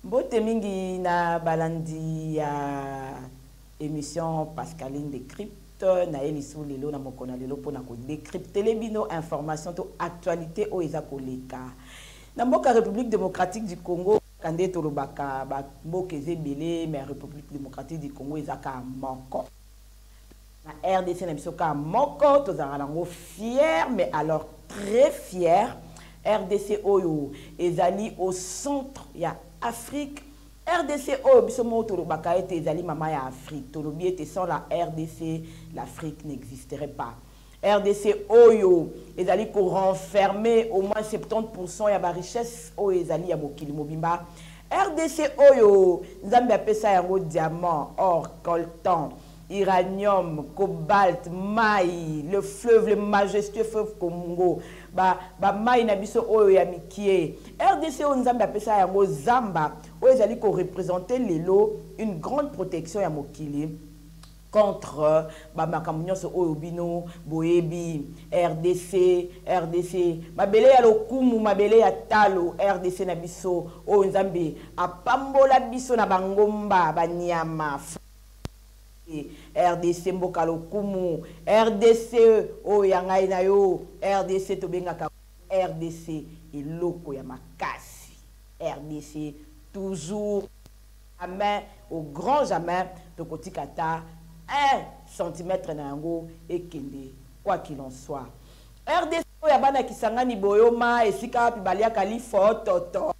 mbote mingi na balandi ya émission pascaline de crypte na ye lisusu lelo na mokolo ya lelo mpona kodecryptele bino information to actualité oyo eza koleka na mboka république démocratique du congo kaka nde tolobaka bamboka eza ebele mais république démocratique du congo eza kaka moko Na RDC na biso ka moko tozalaka nango fier mais alors très fier. RDC oyo ezali au centre ya Afrique. RDC oyo biso moko tolobaka ete ezali mama ya Afrique. Tolobi ete sans la RDC, l'Afrique n'existerait pas. rdc oyo ezali ko renfermer au moins 70% ya ba richesses oyo ezali ya mokili mobimba rdc oyo nzambe apesa yango diamant or coltan uranium cobalt mai le fleuve le majestueux fleuve congo ba, ba mai na biso oyo ya mikie rdc oyo nzambe apesa yango zamba oyo ezali korepresente lelo une grande protection ya mokili contre ba makambo nyonso oyo bino boyebi rdc rdc mabele ya lokumu mabele ya talo rdc na biso oyo nzambe apambola biso na bangomba banyama rdc mboka lokumu rdc oyo ya ngai na yo rdc tobengaka rdc eloko ya makasi rdc toujours Amen au grand jamais tokotika ata un centimetre na yango ekende quoi qu'il en soit. Rdc oyo ya bana Kisangani Boyoma esika wapi baliaka lifototo.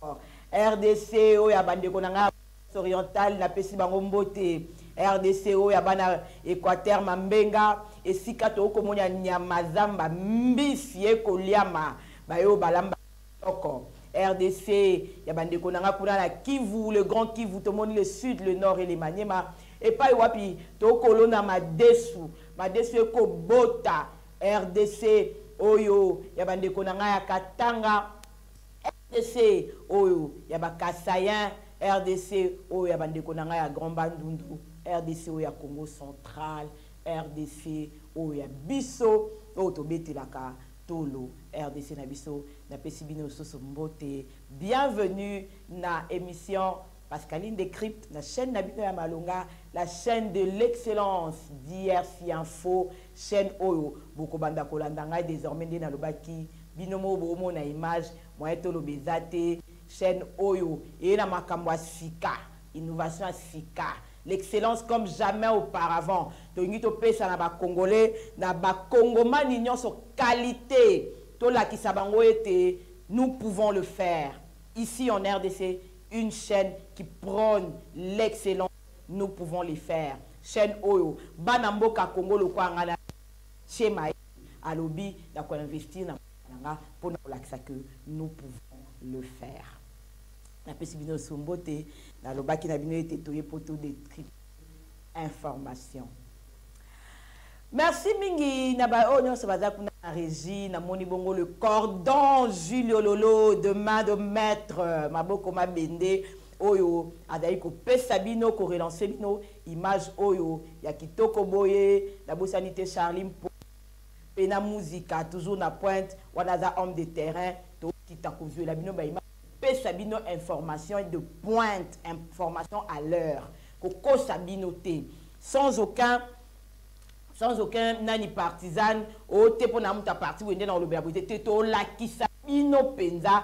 Rdc oyo ya bandeko na ngai orientale napesi bango mbote. Rdc oyo ya bana Equateur Mambenga esika tokomonya nyama zamba mbisi ekoliama bayo balamba Oko. Rdc ya ba ndeko na nga kuna na Kivu, le grand Kivu, tomoni le sud, le nord et le Maniema epai wapi tokolona madesu, madesu eko bota rdc oyo ya ba ndeko na nga ya Katanga, rdc oyo ya ba Kasaïens, rdc oyo ya ba ndeko na nga ya Grand Bandundu, rdc oyo ya Congo central, rdc oyo ya biso oyo tobetelaka Tolo rdc na biso na pesi bino lususu mbote bienvenue na emission Pascaline Decrypte na chaîne na bino ya malonga la chaîne de l'excellence DRC Info chaîne oyo bokobanda kolanda ngai desormais nde nalobaki bino mo bomona image moyen toloba eza te chaîne oyo eye na makambo ya sika innovation ya sika L'excellence comme jamais auparavant tolingi topesa na ba congolais na ba congomani nionso qualite tolakisa bango ete nous pouvons le faire ici en rdc une chaîne qui prône l'excellence nous pouvons les faire chaîne oyo bana mboka congo lokola ngai na chema alobi na koinvestir na nga mpo na kolakisa que nous pouvons le faire Napesi bino lisusu mbote. Nalobaki na bino ete toye mpo to detripe information. Merci mingi na ba oyo nyonso baza kuna na régie namoni bongo le cordon Julio Lolo de main de maître maboko mabende oyo azali kopesa bino korelance bino image oyo ya kitoko boye nabosani te Charlie Mpo mpe na muzika toujours na pointe wana aza homme de terrain tokita kozwela bino baimage pesa bino information de pointe information à l'heure kokosa bino te sans aucun sans aucun nani partisan oyo te mpo na moto ya parti boye nde na kolobela boye te te tolakisa bino mpenza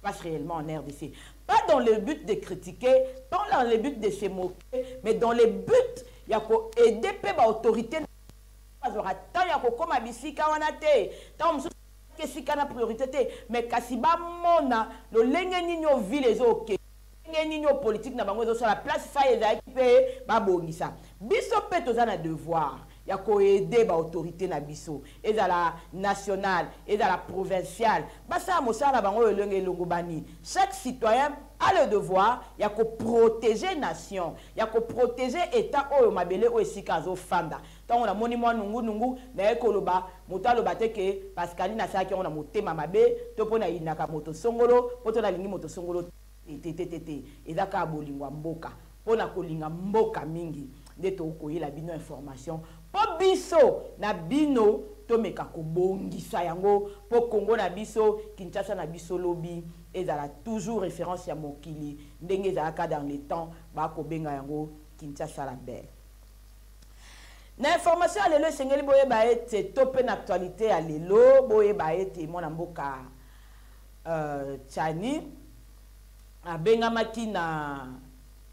passe réellement en RDC. Pas dans le but de critiquer, pas dans le but de se moquer, mais dans le but ya ko aider pe ba autorité bazora tant ya kokoma bisika wana te tant mosusu esika na priorité te mais kasi bamona lolenge nini oyo ville ezokende ndenge nini oyo politike na bango ezosala place fai ezalaki mpe babongisa biso mpe toza na devoir ya koede baautorité na biso ezala nationale ezala provinciale basala mosala na bango oyo elonge elongobani chaque citoyen a le devoir ya koprotege nation ya koprotege etat oyo mabele oyo esika azofanda Tango na moni mwa nungu nungu, naye koloba, moto aloba te ke Pascaline asalaki yango na motema mabe, to po na yinaka moto songolo, poto na lingi moto songolo te, te, te, te, te, eza kaka bolingo ya mboka, po na kolinga mboka mingi nde to koyela bino information po biso na bino to meka ko bongisa yango po Congo na biso, Kinshasa na biso lobi ezala toujours reference ya mokili ndenge ezalaka dans le temps ba ko benga yango Kinshasa la belle. Na information ya lelo esengeli boyeba ete to mpe na actualite ya lelo boyeba ete mwana mboka uh, Chani abengamaki na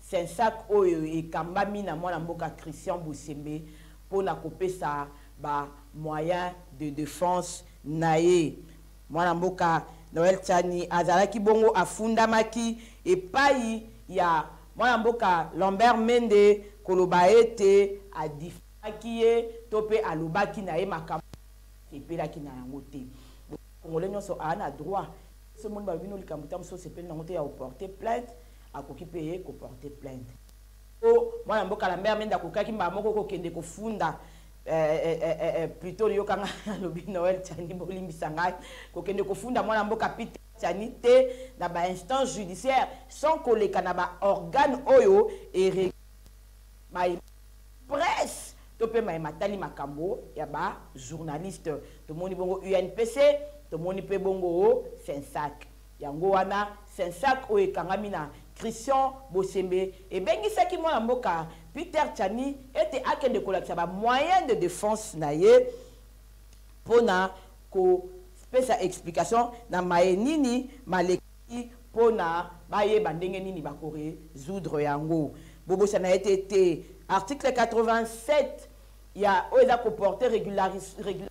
sensac oyo ekambami na mwana mboka Christian Bosembe mpo na kopesa ba moyen de defense na ye Mwana mboka Noel Tshani azalaki bongo afundamaki epayi ya mwana mboka Lambert Mende koloba ete a diffamaki ye to mpe alobaki na ye makambo asepelaki na yango te. Boyebi congolais nionso aa na droit soki omoni balobi no likambo ta mosusu osepeli na yango te ya o porter plainte akoki mpe ye ko porter plainte. Mpo mwana mboka Lambert Mende akokaki mbala moko kokende kofunda eh, eh, eh, eh, eh plutot yoka nga alobi noel tiani bolimbisa ngai kokende kofunda mwana mboka pite tiani te na ba instance judiciaire sans koleka na ba organe oyo ere mai presse to mpe mai matali makambo ya ba journaliste tomoni bongo unpc tomoni mpe bongo sensac Yango wana, Sensac oyo ekangami na Christian Bosembe ebengisaki mwana mboka Peter Tshani ete akende kolakisa ba moyens de defense na ye mpo na kopesa explication na maye nini malekaki mpo na bayeba ndenge nini bakoresoudre yango. Bobosana ete te article 87 ya oyo eza koporte regularis, regularis,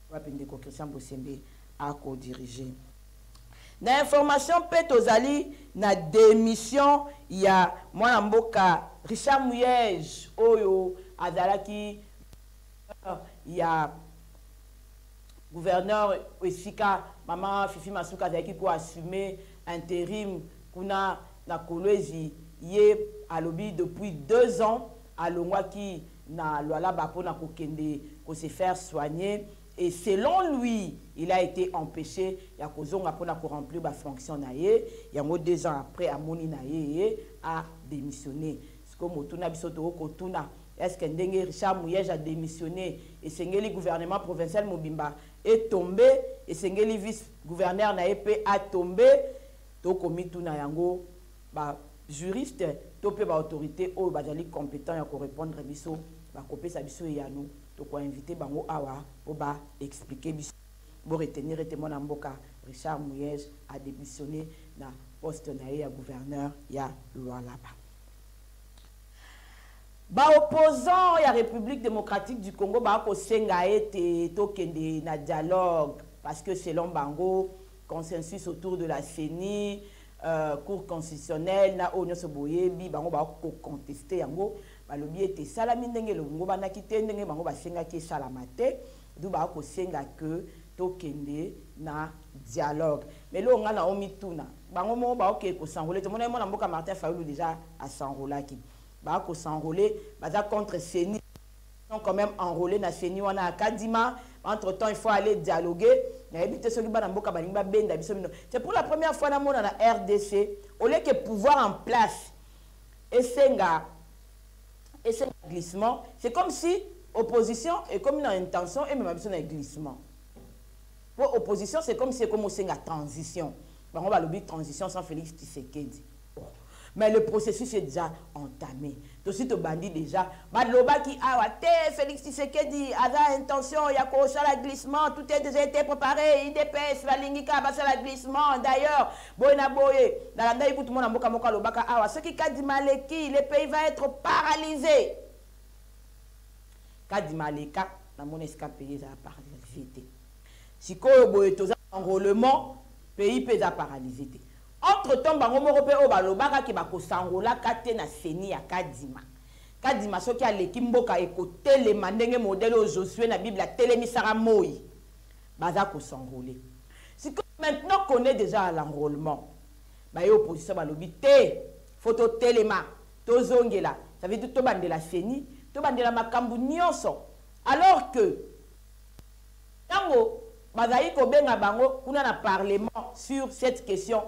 Wapi ndeko Christian Bosembe ako diriger? Na information mpe tozali na demission ya mwana mboka Richard Muyej oyo azalaki ya gouverneur esika mama Fifi Masuka azalaki ko assumer interim kuna na Kolwezi ye alobi depuis deux ans alongwaki na Lualaba pona ko kende ko se faire soigner et selon lui il a ete empeche ya ko zonga pona ko remplir ba fonctions na ye yango deux ans après a moni na ye ye a demissionne sikoyo motuna biso to ko tuna est ce que ndenge Richard Muyej a demissionne esengeli gouvernement provincial mobimba e tombe esengeli vice gouverneur na ye pe a tombe to ko mituna yango Ba juristes to pe ba autorites oyo bazali competents ya ko repondre biso, bakopesa biso eyano, toko inviter bango awa po ba expliquer biso. Bo retenir ete mwana mboka Richard Muyej a demissionner na poste na ye ya Gouverneur ya Lualaba. Ba opposants ya Republique democratique du Congo ba kosenga ete tokende na dialogue parce que selon bango, consensus autour de la CENI, euh, cour constitutionnelle na oyo nyonso boyebi bango bakoconteste yango balobi ete esalami ndenge elongobanaki te ndenge bango basengaki esalama te du bakosenga ke tokende na dialogue mais eloko ngai nao mituna bango moko baokee kosanrole te monai mwana mboka martin fayulu deja asanrolaki bakosanrole baza contre ceni sont quand même enrôlés na ceni wana ya kadima entre temps il faut aller dialoguer nayebi te soki bana mboka balingi babenda biso bino c'est pour la première fois namona na rdc au lieu que pouvoir en place esenga esenga glissement c'est comme si opposition ekomi na intention emema biso na glissement mpo opposition c'est comme si ekomi osenga transition bango balobi transition sans félix tshisekedi Bon mais le processus est dejà entame tosi tobandi dejà balobaki awa te Felix Tshisekedi aza intention ya kosala glissement tout est dejà été préparé IDPS balingi kaka basala glissement d'ailleurs boye na boye nalandaki kutu mwana mboka moko alobaka awa soki Kadima aleki le pays va être paralysé Kadima aleka namoni esika pays ezala paralysé te sikoyo boye toza enrôlement pays mpe eza paralysé te Entre temps bango moko pe oyo balobaka ke bakosangolaka te na ceni ya kadima. Kadima soki aleki mboka ekotelema ndenge modèle oyo Josue na bible atelemisaka moyi. Baza ko s'enroler. Sikoyo maintenant qu'on est dejà à l'enrolement baye opposition balobi te faut totelema tozongela ça veut dire tobandela ceni tobandela makambu nionso alors que Tango bazalaki kobenga bango kuna na parlement sur cette question,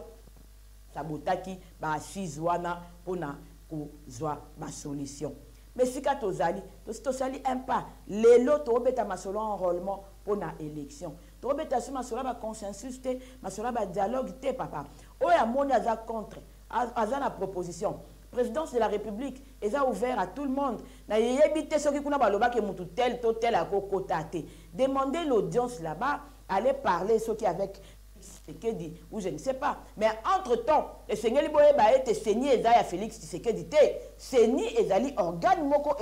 sabotaki ba assises wana mpo na kozwa ba solutions. Mais esika tozali, tosi tosali un pas. Lelo tokobeta masolo ya enrolement mpo na election. Tokobeta lisusu masolo ya ba consensus te, masolo ya ba dialogues te, papa. Oyo amoni aza contre, aza na proposition présidence de la république eza ouvert à tout le monde na yeyebi te soki kuna baloba ke mutu tel to tel akokota te demander l'audience là-bas aller parler soki avec Tshisekedi ou je ne sais pas mais entre temps esengeli boyeba ete seni eza ya Félix Tshisekedi te seni ezali organe moko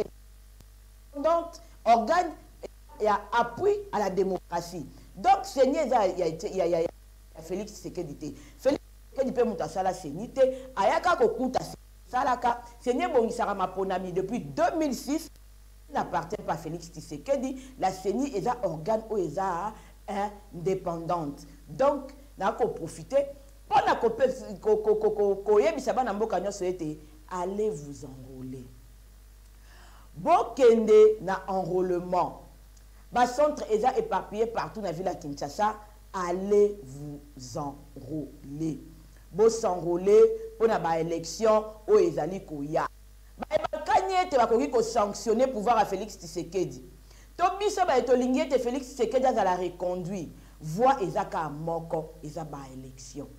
indépendante organe ya appui à la démocratie donc seni eza ya, ya, ya, ya Félix Tshisekedi te Félix Tshisekedi pe mutu asala ceni te aya kaka kokuta ceni esalaka ceni ebongisaka maponami depuis 2006 ceni n'appartient pas à Felix Tshisekedi la ceni eza organe oyo eza independante donc na ko profiter pona ko koyebisa bana mboka nionso ete allez vous enrôler bokende na enrôlement ba centre eza éparpillé partout na ville ya Kinshasa Allez vous enroler. Bo s'enroler pona ba elections oyo ezali koya. Baye bakani ete bakoki ko sanctionner pouvoir ya Felix Tshisekedi to biso baye tolingi ete Felix Tshisekedi azala reconduit, voie eza kaka moko, eza ba elections.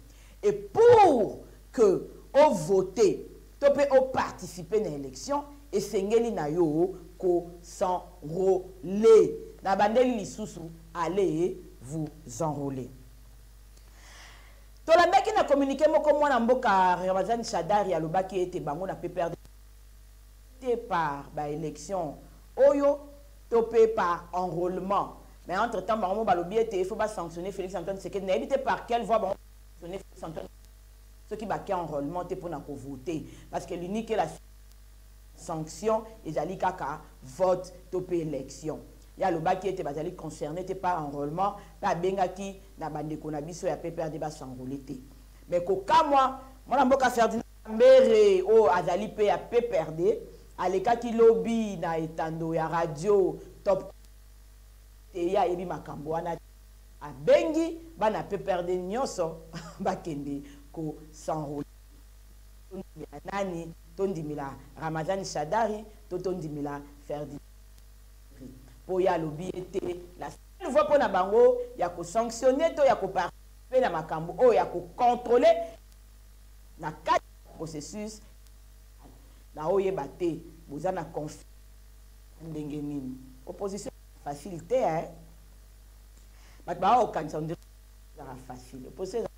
Et pour que o voter to pe o participer na election, esengeli na yo ko s'enroler. Na bandeli lisusu, allez vous enroler. Tolandaki na communique moko mwana mboka Ramazani Shadary alobaki ete bango na PPRD par ba elections oyo to pe par enrolement mais entre temps bango mo balobi ete il faut ba sanctionner Felix Antoine Tshisekedi nayebi te par quelle voie bango sanctionner Felix Antoine soki bake enrolement te pona ko voter parce que l'unique la sanction ezali kaka vote to pe election ye alobaki ete bazali concerne te par enrolement mpe abengaki na bandeko na biso ya pprd basanrole te mais kokamwa mwana mboka ferdinand Kamerhe oyo azali mpe ya pprd alekaki lobi na etando ya radio Top te ye ayebi makambo wana te. Abengi bana pprd nionso bakende ko s'enrouler. Tondimela nani? Tondimela Ramazani Shadary to tondimela Ferdinand Kamerhe? Mpo ye alobi ye te la seule voie mpo na bango ya ko sanctionner to ya ko participer na makambo oyo ya ko controler na kati ya processus na oyeba te boza na conflit ndenge nini opposition facile te hein bato baa okanisa ondire ezaka facile opposition ezaka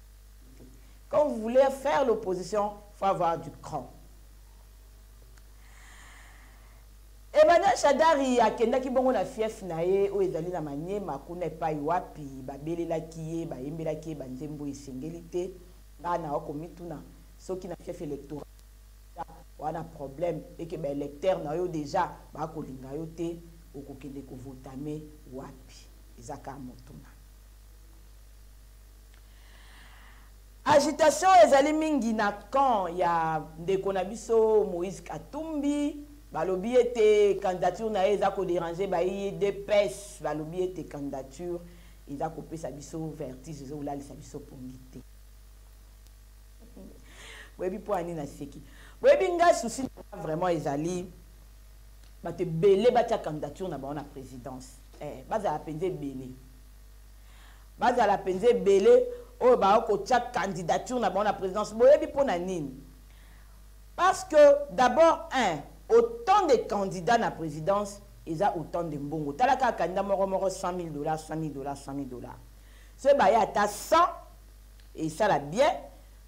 quand vous voulez faire l'opposition faut avoir du cran emmanuel shadari akendaki bongo na fief na ye oyo ezali na maniema kuna epai wapi babelelaki ye bayembelaki ye banzembo esengeli te nga na oko mituna soki na fief electoral wana problème et que ba électeurs na yo déjà ba ko linga yo te okokende ko votame wapi eza ka motuna agitation ezali mingi na camp ya ndeko na biso moïse katumbi balobi ete candidature na ye eza koderange bayi dps balobi ete candidature Eza kopesa biso vertige ezo lalisa biso pongi te. Boyebi po ani na seki. Boyebi nga souci vraiment ezali bato ebele batia candidature na bango na présidence eh, bazala mpenza ebele bazala mpenza ebele oyo baokotia candidature na bango na présidence boyebi mpo na nini Parce que d'abord un autant de candidats na presidence eza autant de mbongo tala kaka candidat moko moko 100 mille dollars 100 mille dollars 100 mille dollars soki baya ata 100 esala bien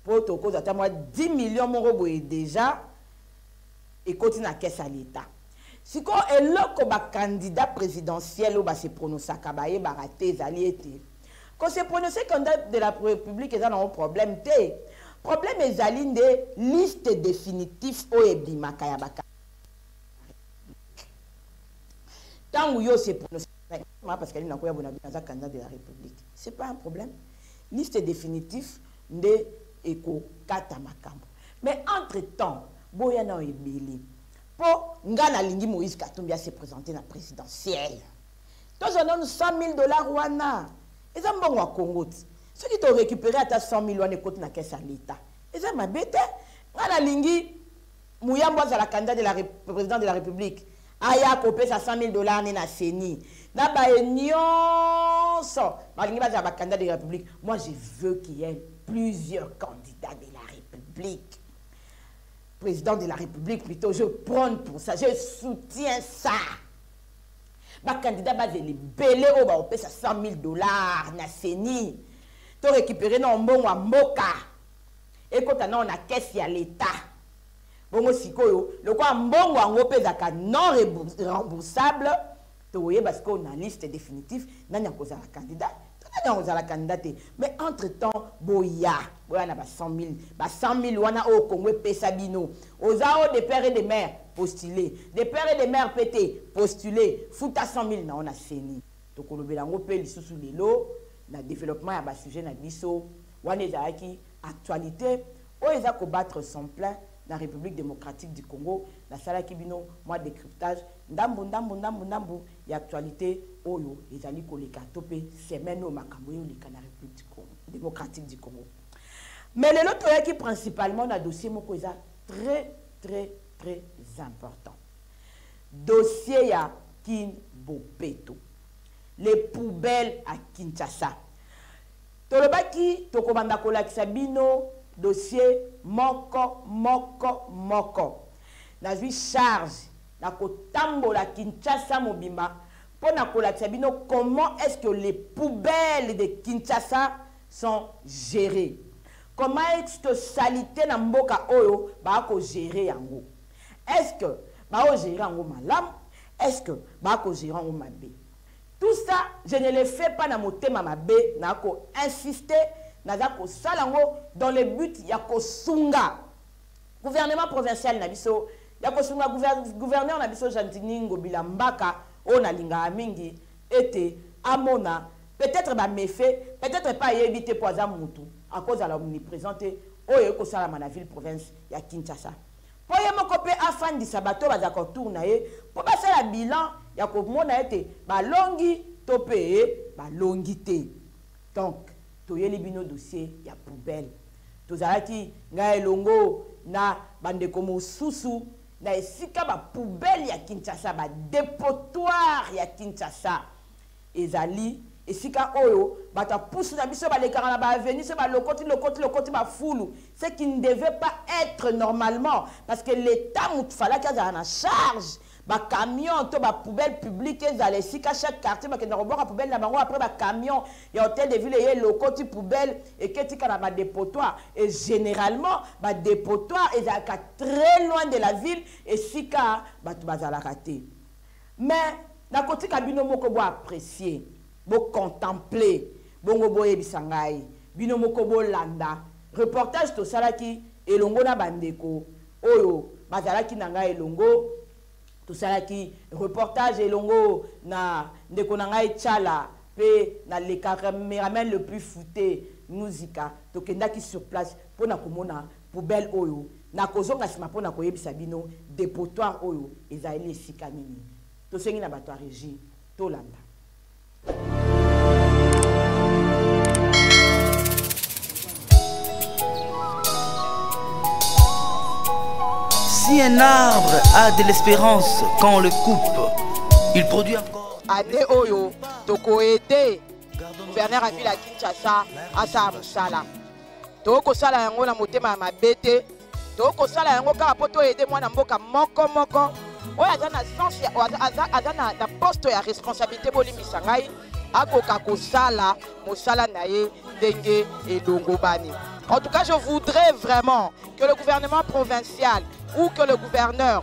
mpo tokozwa ata mwa 10 millions moko boye déjà ekoti na caisse ya l'etat sikoyo eloko bacandidat présidentiel oyo base pronosaka bayebaka te ezali ete Ko se prononcer candidat de la Republique eza nango problème te. Problème ezali nde liste définitif oyo ebimaka ya baka. Tango yo se prononcer ma parce que na koya bona bina za candidat de la République. C'est pas un problème. Liste définitif nde eko kata makambo. Mais entre temps, boya na ebele. Po nga na lingi Moïse Katumbi a se présenter na présidentielle. tozwa nanu 100000 dollars wana eza mbongo ya congo ti soki torécupere ata 100000 wana ekoti na kese ya leta eza mabe te ngai nalingi muyambo azala candidat de la président de la république aya kopesa 100000 dollars ne na ceni na baye nyonso balingi bazala bacandidat de la république moi je veux qu'il y ait plusieurs candidats de la république président de la République, plutôt, je prône pour ça, je soutiens ça. bakandida bazela ebele oyo bakopesa 100 000 dollars na ceni to récupere nao mbongo ya mboka ekota nao na kese ya leta bongo sikoyo lokola mbongo yango mpe ezalaka non remboursable tokoyeba sikoyo na liste définitive nani akozala candidat Tata ntango ozala candidat te mais entre temps boya boya na ba 100 000 ba 100 000 wana oyo Congo epesa bino oza o de père et de mère postuler de père et de mère mpe te postuler futa 100 000 na yo na CENI tokolobela yango mpe lisusu lelo na développement ya ba sujet na biso wana ezalaki actualité oyo eza kobattre son plein na République démocratique du Congo nasalaki bino mwa décryptage ndambu ndambu ndambu ndambu ya actualite oyo ezali koleka to mpe semaine oyo makambo eyoleka na République du Congo, démocratique du Congo. Mais lelo toyaki principalement na dossier moko eza très très très important. Dossier ya Kin Bopeto. Les poubelles à Kinshasa. Tolobaki tokobanda kolakisa bino dossier moko moko moko. Nazwi charge Nakotambola Kinshasa mobimba mpo na kolakisa bino comment est-ce que les poubelles de Kinshasa sont gerees. Comment est-ce que salite na mboka oyo ba ko gerer yango? Est-ce que ba o gerer yango malamu? Est-ce que ba ko gerer yango mabe? Tout ça, je ne le fais pas na motema mabe, na ko insister, naza kosala ngo dans le but ya kosunga. gouvernement provincial na biso ya kosunga gouverneur na biso jandini ngobila mbaka oyo nalingaka mingi ete amona peut-être bamefe peut-être epai ayebi te mpo aza mutu akozala omniprésent te oyo ekosalama na ville province ya kinshasa mpo ye moko mpe afandisa bato oyo bazalaka autour na ye mpo basala bilan ya komona ete balongi to mpe balongi te Donc toyeli bino dossier ya poubelle. Tozalaki ngai elongo na bandeko mosusu na esika ba poubelles ya Kinshasa, ba depotoirs ya Kinshasa ezali esika oyo bato ya pusu na biso balekaka na ba avenues se balokoti lokoti lokoti bafulu ce qui ne devait pas être normalement parce que l'État motu falaki azala na charge ba camion to ba poubelle publique ezala esika chaque quartier bakenda kobwaka poubelle na bango après ba camion ya hotel de ville eye elokoti poubelle eketika na ba depotoir et généralement ba depotoir ezalaka très loin de la ville esika bato bazalaka te mais nakotika bino moko bo apprécier bo contempler bongo boyebisa ngai bino moko bolanda reportage tosalaki elongo na bandeko oyo bazalaki na ngai elongo tosalaki reportage elongo na ndeko na ngai chala mpe na le cameraman le plus foute musika tokendaki sur place mpo na komona poubelle oyo na kozonga nsima mpo na koyebisa bino depotoire oyo ezali esika nini tosengi na bato ya régie tolanda Si un arbre a de l'espérance quand on le coupe, il produit encore. Année Oyo, toko aider gouverneur ya ville ya Kinshasa asala mosala. Toko sala yango na motema ya mabe te. tokoki kosala yango kaka mpo toyede mwana mboka moko moko oyo aza na sens aza na poste ya responsabilité bolimbisa ngai akoka kosala mosala na ye ndenge elongobani en tout cas je voudrais vraiment que le gouvernement provincial ou que le gouverneur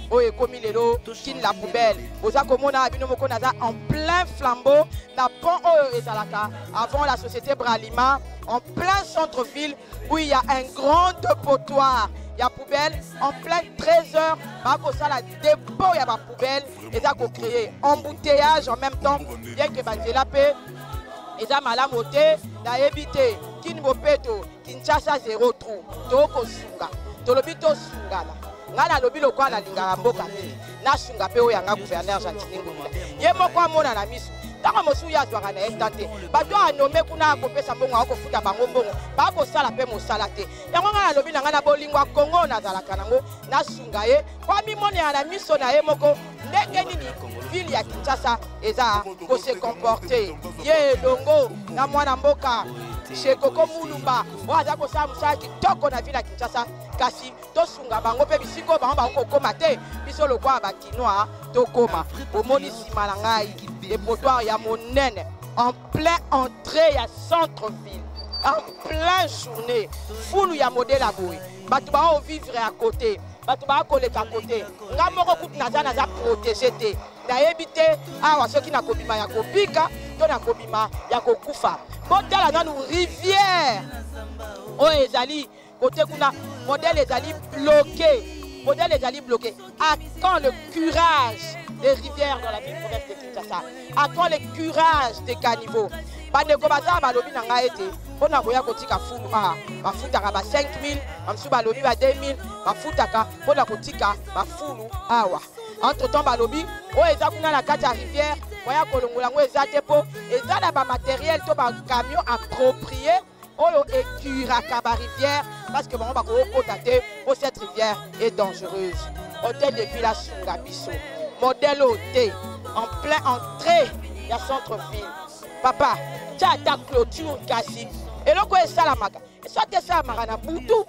oyo ekomi lelo kin la poubelle boza komona bino moko naza en plein flambeau na pont oyo ezalaka avant la société bralima en plein centre ville où il y a un grand potoir ya poubelle en plein 13 heures bakosala dépôt ya bapoubelle eza kocréer embouteillage en même temps bien ke banzela mpe eza malamu te nayebi te kini bopeto Kinshasa zero trou tokosunga tolobi tosungana ngai nalobi lokola nalingaka mboka mingi nasunga mpe oyo yanga gouverneur gentini ngobila ye moko amona na miso ntango mosusu ye azwaka na ye ntan te bato oyo anome kuna akopesa mbongo akofuta bango mbongo bakosala mpe mosala te yango ngai nalobi na ngai na bolingo ya kongo nazalaka nango nasunga ye po amimonela na miso na ye moko ndenge nini ville ya kinshasa eza kose comporte ye elongo na mwana mboka shekoko mulumba oyo aza kosala mosala kitoko na ville ya kinshasa kasi tosunga bango mpe bisika oyo bango bango kokóma te biso lokola bakinois tokóma omoni nsima na ngai depotoire ya monene en plein entrée ya centre ville en plein journée fulu ya modele ya boye bato baovivre ya kote bato baya koleka kote nga moko kutu naza naza protege te nayebi te awa soki nakobima ya kobika to nakobima ya kokufa botala nanu rivière oyo ezali kote kuna modèle ezali bloqué modèle ezali bloqué à quand le curage des rivières dans la ville province de kinshasa à toi le courage de caniveau bandeko baza balobi na ngai ete mpo na koya kotika fulu a bafutaka ba 5000 bamosusu balobi ba 2000 bafutaka mpo na kotika bafulu awa entre temps balobi oyo eza kuna na kati ya rivière moya kolongola yango eza te mpo eza na bamateriel to bacamion approprie oyo ecuraka ba rivière parce que bango bakokota te po cette rivière est dangereuse hôtel de ville asunga biso modèle oyo te en plein entrée ya centre ville papa tya ata clôture kasi eloko oyo esalamaka soki esalamaka na butu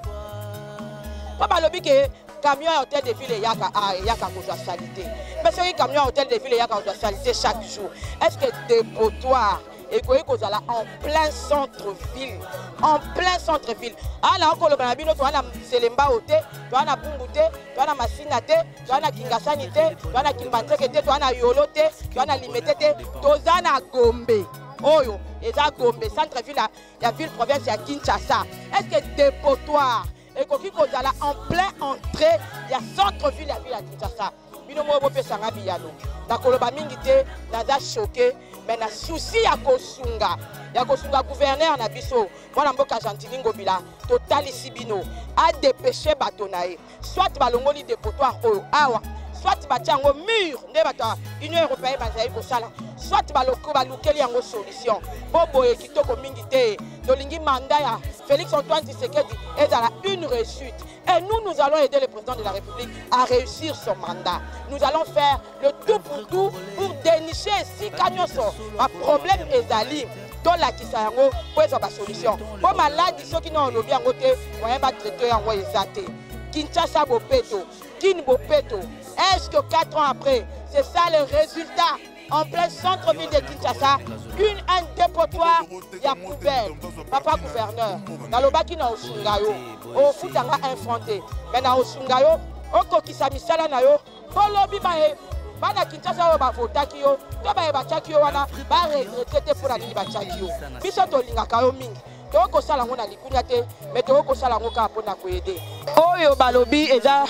mpo balobi ke camion ya hôtel de ville eyaka ah, eyaka kozwa salite mpe soki camion ya hôtel de ville eyaka kozwa salite chaque jour est ce que depotoire ekoki kozala en plein centre ville en plein centre ville awa na okoloba na bino toa na selembao te toa na bungu te toa na masina te toa na kingasani te toa na kimbanseke te toa na yolo te toa na limete te toza na gombe oyo eza gombe centre ville ya ville province ya kinshasa est ce que depotoire ekoki kozala en plein entrée ya centre ville ya ville ya kinshasa bino moko bopesa nga biyano nakoloba mingi te naza choke me na susi ya kosunga ya kosunga guverner na biso mwana mboka gentini ngobila totalisi bino adepeshe bato na ye soit balongoli depotoire oyo awa soit batya yango mur nde bato ya union européenne bazali kosala soit balukeli yango solution mpo boye kitoko mingi te tolingi mandat ya félix antoine tshisekedi ezala une réussite et nous nous allons aider le président de la république à réussir son mandat nous allons faire le tout pour tout pour dénicher esika nyonso baproblème ezali tolakisa yango mpo ezwa basolution mpo maladi soki na olobi yango te moyen batraite yango eza te kinshasa bopeto kin bopeto est ce que 4 ans après c'est ça le résultat en plein centre-ville de Kinshasa, une, un dépotoir ya poubelle. Papa gouverneur, nalobaki na osunga yo, ofutanga un franc te, mais na osunga yo, okokisa misala na yo, bolobi baye bana kinshasa oyo bavotaki yo to baye batyaki yo wana baregrete te mpo na nini batyaki yo biso tolingaka yo mingi tokoki kosala yango na likunya te me tokoki kosala yango kaka mpo na koyede oyo balobi eza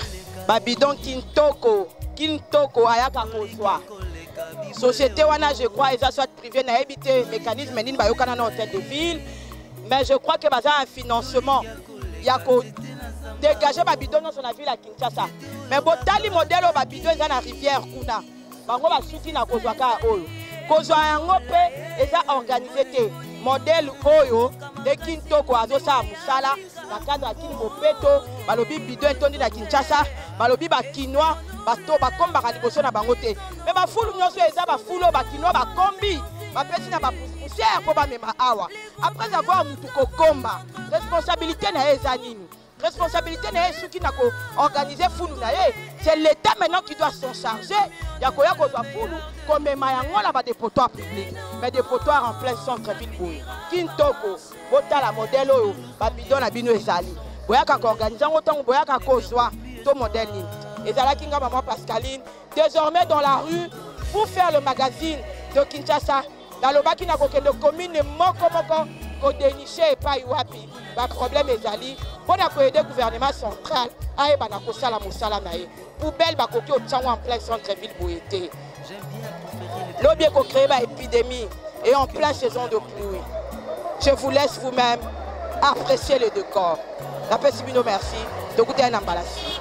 babidon kintoko kintoko ayaka kozwa société wana je crois eza soit privé nayebi te mécanisme nini bayokana na hôtel de ville mais je crois que baza un financement ya ko dégage babidon nyonso na ville ya kinshasa mais botali modele oyo babidon eza na rivière kuna bango basuki na kozwa kaka oyo kozwa yango mpe eza organise te modele oyo nde kintoko azosala mosala na cadre ya kini bopeto balobi bido etondi na kinshasa balobi bakinois bato bakombaka liboso na bango te me bafulu nyonso eza bafulu oyo bakinois bakombi bapesi na bapusiere mpo bamema awa après avoir motu kokomba responsabilité na ye eza nini responsabilité na ye esuki na ko organiser fulu na ye c'est l'état maintenant qui doit s'en charger ya koya kozwa fulu komema yango na badepotoire public mais depotoire en plein centre ville boye kintoko botala modèle oyo babido na bino ezali boyaka koorganize yango ntango boyaka kozwa to modèle nini ezalaki nga mama pascaline désormais dans la rue pour faire le magazine de kinshasa nalobaki na kokende komine moko moko kodeniche epai wapi baproblème ezali mpo na koyede gouvernement central ayeba na kosala mosala na ye poubelle bakoki otyango en plein centre ville boye te lobi ekocreye baépidémie et en plein saison de pluie je vous laisse vous-même apprécier le décor napesi bino merci tokutani na mbalasi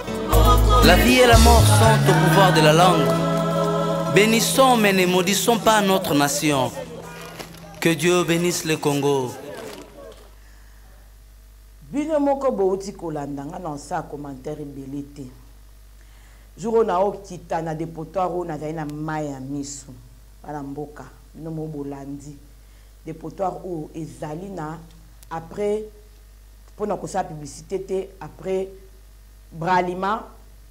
La vie et la mort sont au pouvoir de la langue. Bénissons mais ne maudissons pas notre nation. Que Dieu bénisse le Congo. bino moko bouti kolanda nga na osa ya commentaire ebele te jour oyo naokita na depotoire oyo nazali na mai ya miso bana mboka bino moko bolandi depotoire oyo ezali na après mpo na kosala publicité te après Bralima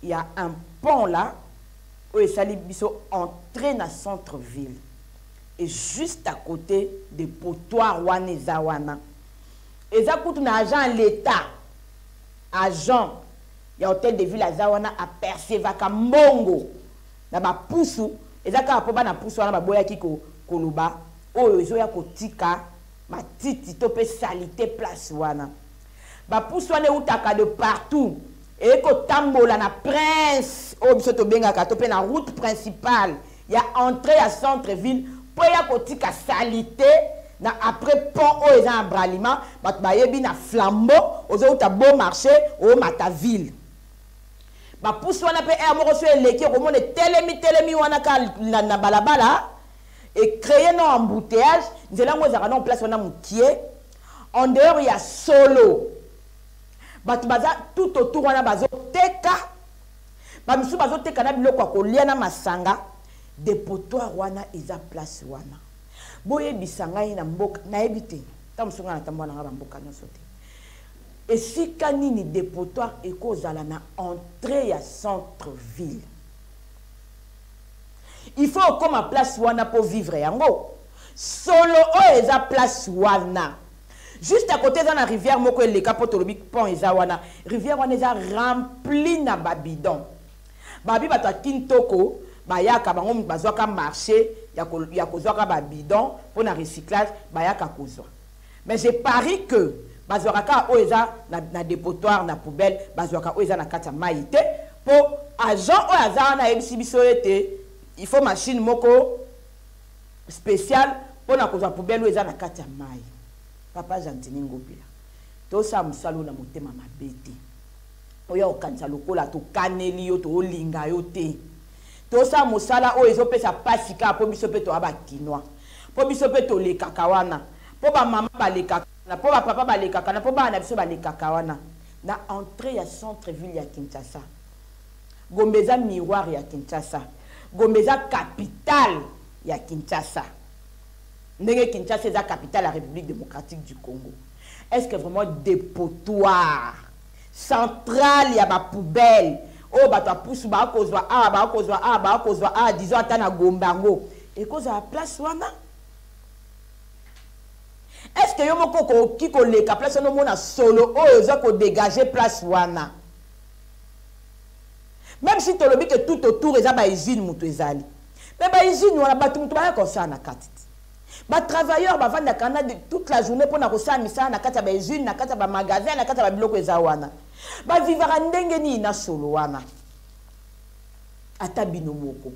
ya un pont la oyo esali biso entre na centre ville et juste à cote de potoir wana eza wana eza kutu na agent ya l'etat agent ya hotel de ville aza wana apercevaka mbongo na bapusu eza kaka mpo bana pusu wana baboyaki ko, koloba oyo ezoya kotika matiti to mpe salite place wana Ba puce wana ewutaka de partout eye kotambola na prince oyo biso tobengaka to mpe na route principale ya entree ya centre ville mpo eya kotika salite na après pont oyo eza na bralima bato bayebi na flambeau ozowuta beau marché omata ville bapusi wana mpe aire moko so eleki okomona etelemi telemi wana ka na, na balabala ecreye no embouteillage nzela yango ezalaka nao place wana mokie en dehors ya solo bato baza tout autour wana bazoteka bamisusu bazoteka na biloko ya kolia na masanga depotoire wana eza place wana boyebisa ngai na mboka nayebi te ntango mosusu ngai natambola na ngai bamboka nyonso te esika nini depotoire ekozala na entrée ya centre ville il faut okoma place wana mpo vivre yango solo oyo eza place wana juste à côté eza na rivière moko eleka mpo tolobi pont eza wana rivière wana eza rempli na babidon babi bato ya kintoko bayaka bango bazwaka marché ya kozwaka babidon mpo na recyclage bayaka kozwa Mais je parie que bazwaka kaka oyo eza na, na depotoir na poubelle, bazwaka oyo eza na kati ya mayi te, po agent oyo aza wana ayebisi biso ete il faut machine moko special mpo na kozwa poubelle oyo eza na kati ya mayi. Papa Gentini Ngobila, tosala mosala oyo na motema mabe te, oya kokanisa lokola tokaneli yo, tolinga yo te. Tosa mosala oyo ezo pesa pasi kaka po biso pe toa ba kinois. Po biso pe tolekaka wana. Po ba maman balekaka wana. Po ba papa balekaka wana. Po bana na biso balekaka wana. Na entree ya centre ville ya Kinshasa. Gombe eza miroir ya Kinshasa. Gombe eza capital ya Kinshasa. Ndenge Kinshasa eza capital ya Republique Democratique du Congo. Est-ce que vraiment depotoir centrale ya ba poubelle oyo bato ya pusu bakozwa awa bakozwa awa bakozwa awa disons ata na gombe yango ekozala place wana est ce que yo moko okoki koleka place wana omona solo oyo oza kodegage place wana même si tolobi ke tout autour eza bausine moto ezali me bausine wana bato moto baya kosala na kati te Ba travailleurs ba vanda kana de toute la journée pona ko sa misa na kata ba usine na kata ba magasin na kata ba biloko eza wana. Ba vivaka ndenge ni na solo wana. Ata bino moko.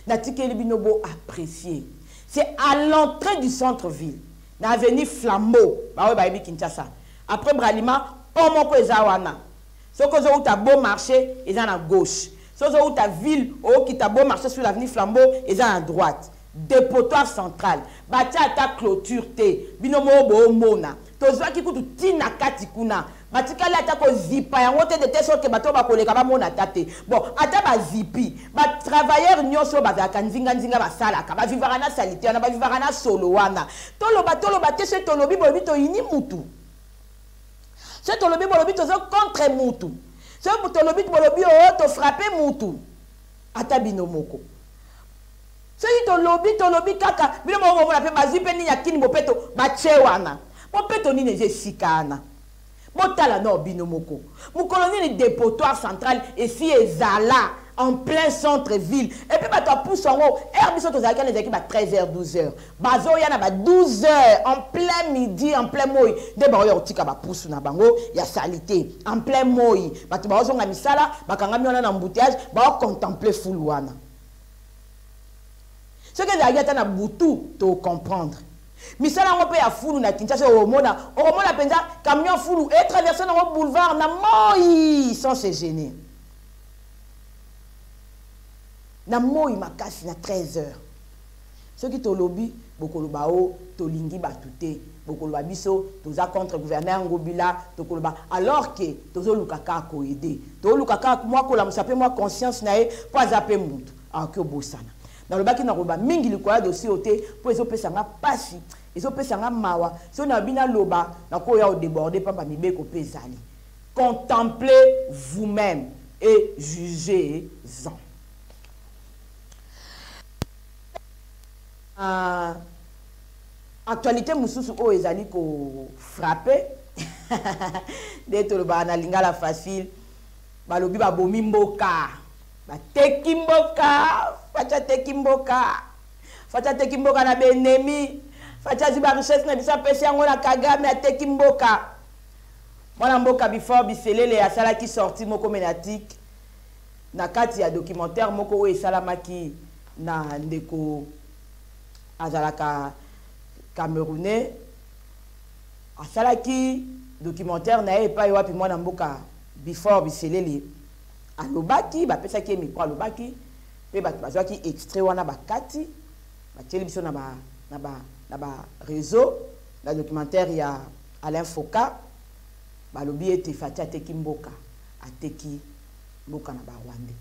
Na tikeli bino bo apprécier. C'est à l'entrée du centre ville. Na avenue Flambeau. Ba oyo ba yebi Kinshasa. Après Bralima, pont moko eza wana. Soko ozo uta beau marché eza na gauche. Soko ozo uta ville, okita beau marché sur l'avenue Flambeau eza na droite. Depotoir central batia ata cloture te bino moko boomona tozuaki kutu ti na kati kuna batikali ata kozipa yango te de telle sorte que bato oyo bakoleka bamona ata te bon ata bazipi ba travailleurs nyonso oyo bazalaka nzinga nzinga basalaka bavivaka na salite wana bavivaka na solo wana toloba toloba te soki tolobi bolobi toyini mutu soki tolobi bolobi tozo contre mutu soki tolobi bolobi o oh, tofrape mutu ata bino moko Soki tolobi tolobi kaka bino moko bomona pe bazui pe nini ya kin bopeto batie wana bopeto nini eza esika wana botala nao bino moko mokolo nini depotoire central esi ezala en plein centre ville epuis bato ya pusu yango heure biso tozalaki wana ezalaki ba 13 heures 12 heures bazoya na ba 12 heures en plein midi en plein moi nde baoya kotika bapusu na bango ya salite en plein moi bato baozonga misala bakangami wana na embouteillage baocontempler fulu wana soki ezalaki ata na butu tocomprendre misala yango mpe ya fulu na kinshasa omona okomona mpenza camion ya fulu etraverse nango boulevard na moi sans se gêner na moi makasi na 13 heures Soki tolobi bokoloba oh tolingi batu te bokoloba biso toza contre gouverneur ngobila tokoloba alors que tozoluka kaka ko aider toluka kaka mua kolamusa pe mua conscience na ye po aza pe mutu akoki obosana nalobaki nakoloba mingi likolo ya dossier oyo te po ezopesa nga pasi ezopesa nga mawa soki nalobi naloba nakoya odeborde pamba mibeko pe ezali contemplez vous même et jugez en Uh, actualité mususu oyo ezali ko frapper nde tolobaka na lingala facile balobi babomi mboka bateki mboka facha ateki mboka facha ateki mboka na benemi facha azwi barichesse na biso apesi yango na kagame ateki mboka mwana mboka before biselele asalaki sorti moko menatike Na kati ya documentaire moko oyo esalamaki na ndeko azalaka Camerounais, asalaki documentaire na ye epai wapi mwana mboka Bifor Biselele alobaki, bapesaki ye micro alobaki, mpe bato bazwaki extrait wana bakati batieli biso na ba, na ba, na ba réseau na documentaire ya Alain Foka balobi ete Fatshi ateki mboka, ateki Boka na ba rwandais.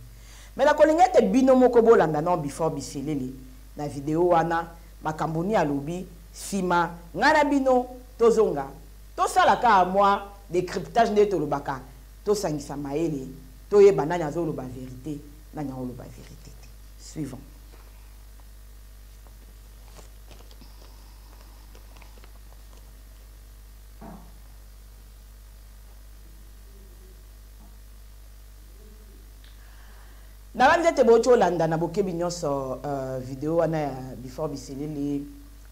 Mais na kolinga ete bino moko bolanda nao before biselele na video wana makambo nini alobi sima ngai na bino tozonga tosala kaka mwa decriptage nde tolobaka tosangisa mayele toyeba nani azoloba verite nani aoloba verite te. Suivant. Nabanzi ete bouti olanda na bokebi nyonso uh, video wana ya Before Biselele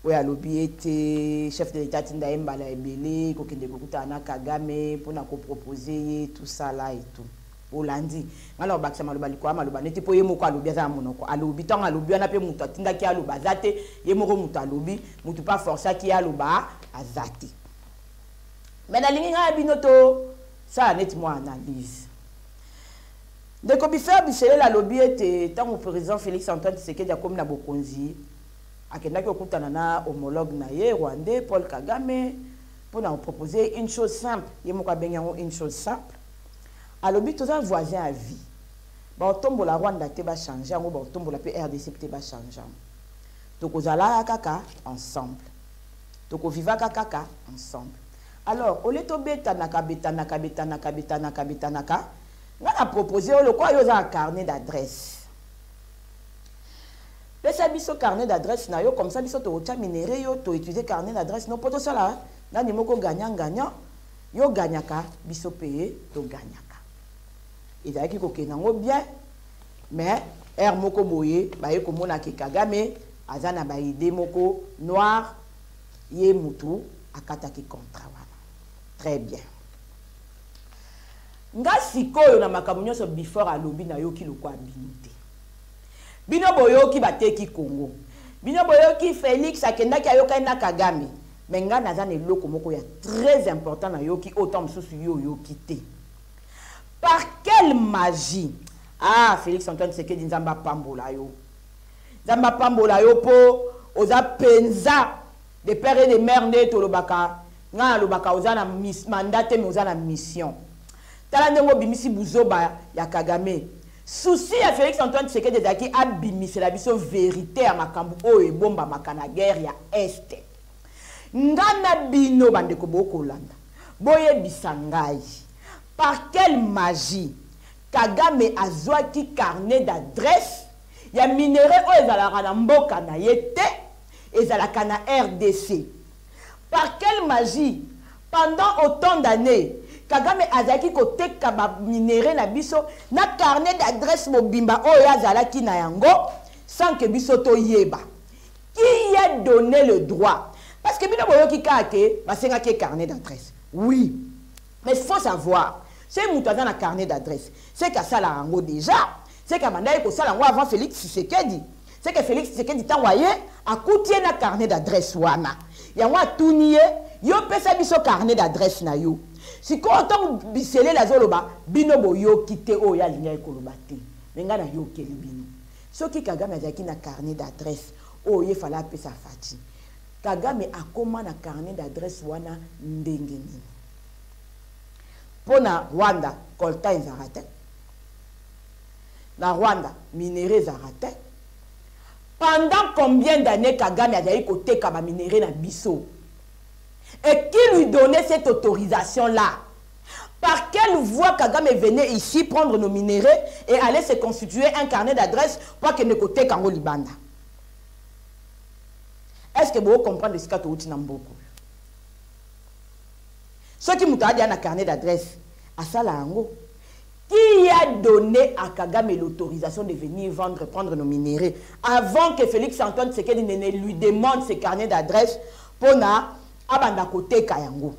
oyo alobi ete chef de l'etat atinda ye mbala ebele kokende kokutana na Kagame mpo na kopropose ye tout ça là et tout olandi ngai na kobakisa maloba likolo ya maloba nete mpo ye moko alobi aza na monoko alobi ntango alobi wana mpe moto atindaki ye aloba aza te ye moko moto alobi moto mpe aforcaki ye aloba aza te me nalingi ngai ya bino to Sala neti mwa analyse. Ndeko Bifer Bishelela alobi ete ntango president Felix Antoine Tshisekedi akomi na bokonzi, akendaki kokutana na homologue na ye rwandais Paul Kagame mpo na kopropose ye une chose simple, ye moko abengi yango une chose simple. Alobi toza voisin ya vie. Baotombola Rwanda te bachange yango, baotombola mpe RDC te bachange yango. Tokozalaka kaka ensemble. Tokovivaka kaka ensemble. Alors au lieu to betanaka betanaka betanaka betanaka betanaka nga na proposer yo lokola yo oza na carnet d'adresse pesa biso carnet d'adresse na yo comme ça biso tokotya minere yo toétudier carnet d'adresse no mpo tosala nani moko gagnant gagnant yo gagnaka biso mpe togagnaka ezalaki kokende yango bien mais heure moko boye baye komona ke kagame aza na baide moko noire Ye mutu akataki contrat wana. Très bien. Nga sikoyo na makambo nyonso before alobi nayoki lokola bino te. Bino boyoki bateki Congo. Bino boyoki Felix akendaki ayokani na Kagame. Mais nga naza na eloko moko ya très important nayoki oyo temps mosusu yo oyoki te. Par quelle magie? Ah Felix Antoine Tshisekedi Nzambe apambola yo. Nzambe apambola yo po oza penza de père et de mère nde tolobaka nga nalobaka oza na mandat te mais oza na mission tala ndenge obimisi buzoba ya kagame souci ya félix antoine tshisekedi ezalaki abimisela biso verité ya makambo oyo ebombamaka na guerre ya este nga na bino bandeko bokolanda boyebisa ngai par quelle magie Kagame azwaki carnet d'adresse ya minerais oyo ezalaka na mboka na ye te, ezalaka na rdc. Par quelle magie, pendant autant d'annees, Kagame azalaki koteka ba minerais na biso na carnet d'adresse mobimba oyo ye azalaki na yango sans que biso toyeba? Qui a donne le droit? Parce que bino boyoki kaka que basengaki ye carnet d'adresse. Oui. Mais faut savoir, ce mutu aza na carnet d'adresse, ce ka sala yango deja, ce ka banda ye ko sala yango avant Felix Tshisekedi. Ce que Felix Tshisekedi tango aye, akuti ye na carnet d'adresse wana. Yango atuni ye, yo pesa biso carnet d'adresse na yo. Sikoyo tango Biselele azo loba, bino bo yoki te oyo ye alingaki ko loba te. Mais nga na yokeli bino. Soki Kagame azalaki na carnet d'adresse oyo ye fallait apesa Fatshi, Kagame akoma na carnet d'adresse wana ndenge nini? Mpo na Rwanda, coltan ezalaka te. Na Rwanda, minerais ezalaka te. Pendant combien d'annees Kagame azali koteka ba minerais na biso? Et qui lui donnait cette autorisation-là? Par quelle voie Kagame venait ici prendre nos minerais et allait se constituer un carnet d'adresse pour akende koteka yango libanda? est ce que bo comprendre esika towuti na mboka oyo soki moto adia na carnet d'adresse asala yango qui a donné à Kagame l'autorisation de venir vendre, prendre nos minéraux avant que Félix Antoine Tsekedi ne lui demande ses carnets d'adresse pour na abanda côté Kayango.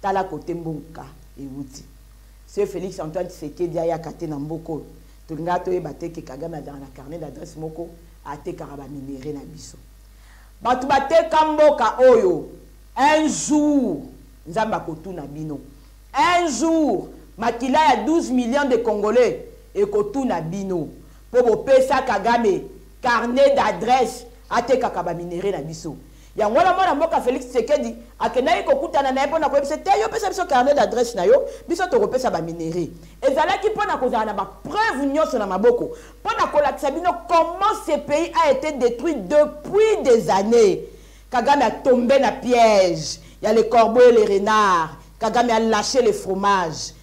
Tala côté Mbonka et Wouti. Ce Félix Antoine Tsekedi a yakate na Mboko. Tolinga toyeba te que Kagame azalaka na carnet d'adresse moko atekaka ba minerais na biso. Batu bateka mboka oyo un jour Nzambe akotuna bino. Un jour makila ya 12 millions de congolais ekotuna bino po bopesa Kagame carnet d'adresse atekaka ba minerais na biso. Yango wana mwana mboka Felix Tshisekedi akendaki kokutana na ye mpo na koyebisa ye te yo pesa biso carnet d'adresse na yo biso tokopesa ba minerais. Ezalaki mpo na kozala na ba preuves nyonso na maboko mpo na kolakisa bino comment ce pays a ete detruit depuis des annees. Kagame a tombe na piège ya le corbeau et le renard. Kagame a lache le fromage.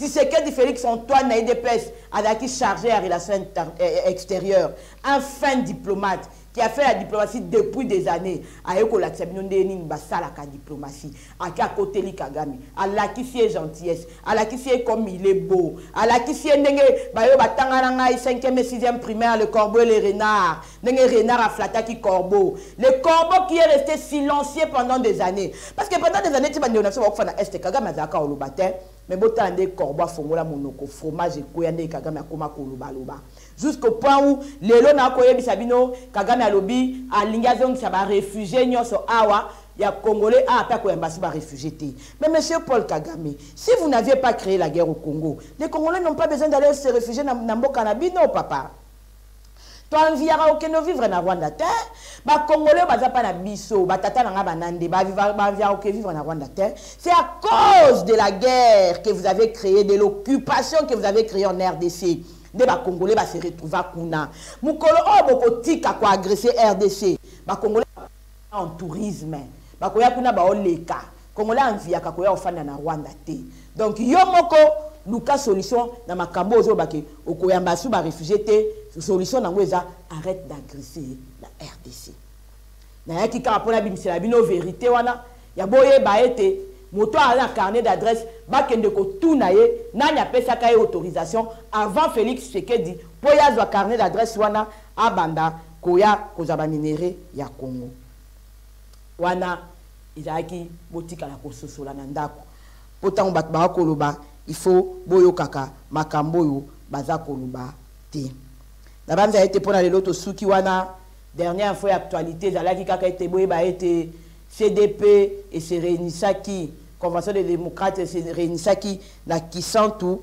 Tshisekedi Felix Antoine na UDPS azalaki chargé ya relation eh, eh, extérieure un fin diplomate qui a fait la diplomatie depuis des années aye kolakisa bino ndenge nini basalaka diplomatie ake akoteli kagame alakisi ye gentillesse alakisi ye comme il est beau alakisi ye ndenge bayo batanga na ngai 5e et 6e primaire le corbeau et le renard ndenge renard aflataki corbeau le corbeau qui est resté silencieux pendant des années parce que pendant des années ti bandeko na biso bakufa na est kagame azalaka oloba te Mais botala nde corbeau afongola monoko fromage ekweya nde kagame akoma koloba loba jusqu'au point où lelo na koyebisa bino kagame alobi alingi azongisa ba refugies nionso awa ya congolais awa pe akoyamba si ba refugies te mais monsieur Paul Kagame si vous n'aviez pas cree la guerre au Congo les congolais n'ont pas besoin d'aller se refugier na, na mboka na bino papa to enviyaka kokende ovivre na rwanda te bacongolais baza mpa na biso batata na ngai banande baenviyaka koke vivre na rwanda te c'est à cause de la guerre que vous avez créé de l'occupation que vous avez créé en rdc nde bacongolais base retrouva kuna mokolo oyo bokotika koagresse rdc bacongolais en tourisme bakoya kuna baoleka congolais anviaka koya ofanda na rwanda te donc yo moko luka solution na makambo ozoloba ke okoyamba asu barefugie te solution nango eza arrête d'agresse na rdc nayaki kaka mpo nabimisela bino verité wana ya boyeba ete moto aza na carnet d'adresse bakende kotuna ye nani apesaka ye autorisation avant félix tshisekedi mpo ye azwa carnet d'adresse wana abanda Koya kozwa ba minerais ya Congo. Wana ezalaki botikala kososola na ndako mpo tango bato baya koloba il faut boyokaka makambo oyo baza koloba te. Nabanza ete mpo na lelo tosuki wana. Dernière info ya actualite ezalaki kaka ete boyeba ete CDP e se reunisaki, Convention des democrates e se reunisaki na Kisantu,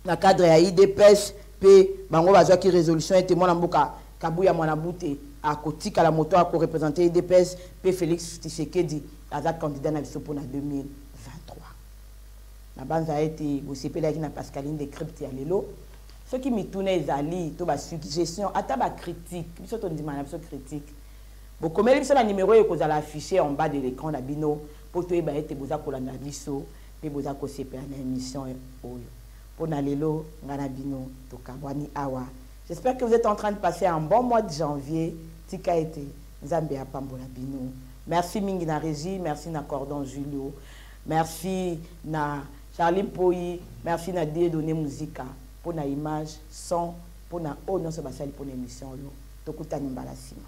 na cadre ya udps mpe bango bazwaki resolution ete mwana mboka kabuya mwana bute akotikala moto ya korepresente udps mpe felix tshisekedi aza candidat na biso mpo na 2023 nabanza ete bosepelaki na pascaline de crypte ya lelo soki mituna ezali to basuggestion ata bacritique biso tondima na biso critique bokomeli biso na numero oyo ekozala affiche en bas de l'écran na bino mpo toyeba ete boza kolanda biso pe boza kosepela na emission oyo pona lelo nga na bino tokabwani awa j'espère que vous etes entrain de passer un bon mois de janvier tika ete nzambe apambola bino merci mingi na regie merci na cordon julio merci na charlie mpoyi merci na die donne musika pona image son pona oyo nyonso basali pona emission oyo tokutani mbala nsima